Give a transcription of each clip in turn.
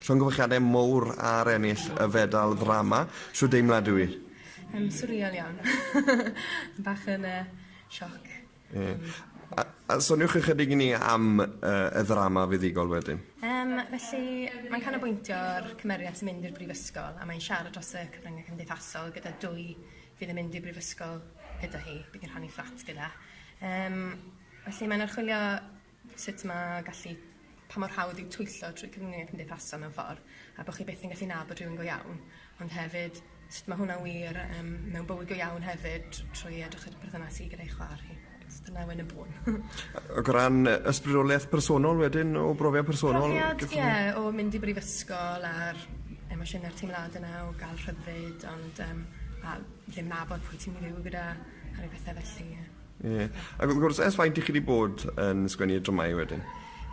Llongyfarchiadau mowr ar ennill y fedal ddrama. Shwd deimlad yw 'i? Yym swrial iawn. Bach yn yy sioc. Ie. A a soniwch ychydig i ni am yy y ddrama fuddugol wedyn. Yym felly mae'n canolbwyntio ar cymeriad sy'n mynd i'r brifysgol a mae'n siarad dros y cyfryngau cymdeithasol gyda dwy fydd yn mynd i'r brifysgol gyda hi, bydd yn rhannu fflat gyda. Yym felly mae'n archwilio sut ma' gallu... Pa mor hawdd yw twyllo trwy cwmnïau cymdeithasol mewn ffordd, a bo' chi byth yn gallu nabod rhywun go iawn, ond hefyd sut ma' hwnna'n wir yym mewn bywyd go iawn hefyd tr- trwy edrych ar y perthynas chi gyda'i chwa'r chi. Achos dyna Wen y Bôn. Ac o ran yy ysbrydolieth personol wedyn o brofiad personol... Profiad ie o mynd i brifysgol a'r emosiyne a'r teimlade 'na o ga'l rhyddid ond yym a ddim nabod pwy ti'n myn' i fyw gyda a ryw bethe felly ie. Ie. Ac wrth gwrs ers faint i chi 'di bod yn sgwennu y dramâu wedyn?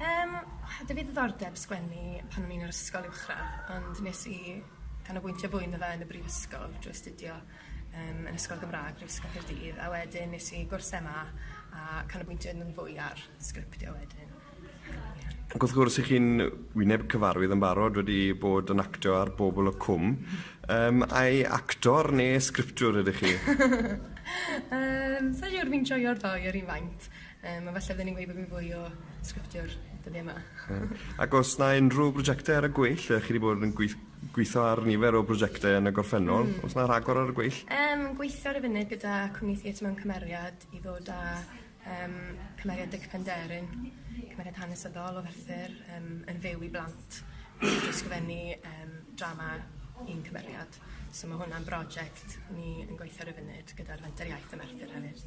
Yym o' 'dy fi ddiddordeb sgwennu pan o'n i'n yr ysgol uwchradd ond nes i canolbwyntio fwy ynddo fe yn y brifysgol drwy astudio yym yn Ysgol Gymra'g Brifysgol Caerdydd a wedyn nes i gwrs Em A a canolbwyntio ynddo'n fwy ar sgriptio wedyn. Ac wrth gwrs, i chi'n wyneb cyfarwydd yn barod wedi bod yn actio ar Bobl y Cwm, um, ai actor neu sgriptiwr ydych chi? um, Sa'n siŵr, fi'n joio'r ddau ar un faint. Um, a falle fydden ni'n gweud bod fi'n fwy o sgriptiwr dyddiau yma. Ac os na unrhyw brosiectau ar y gweill, chi wedi bod yn gweith gweithio ar nifer o brosiectau yn y gorffennol. Mm. Os na rhagor ar y gweill? Um, gweithio ar y funud gyda cwmni theatr mewn cymeriad i ddod â Yym cymeriad Dic Penderyn cymeriad hanesyddol o Ferthyr yym yn fyw i blant ysgrifennu yym drama un cymeriad so ma' hwnna'n broject ni yn gweithio ar y funud gyda'r Fenter Iaith ym Merthyr hefyd.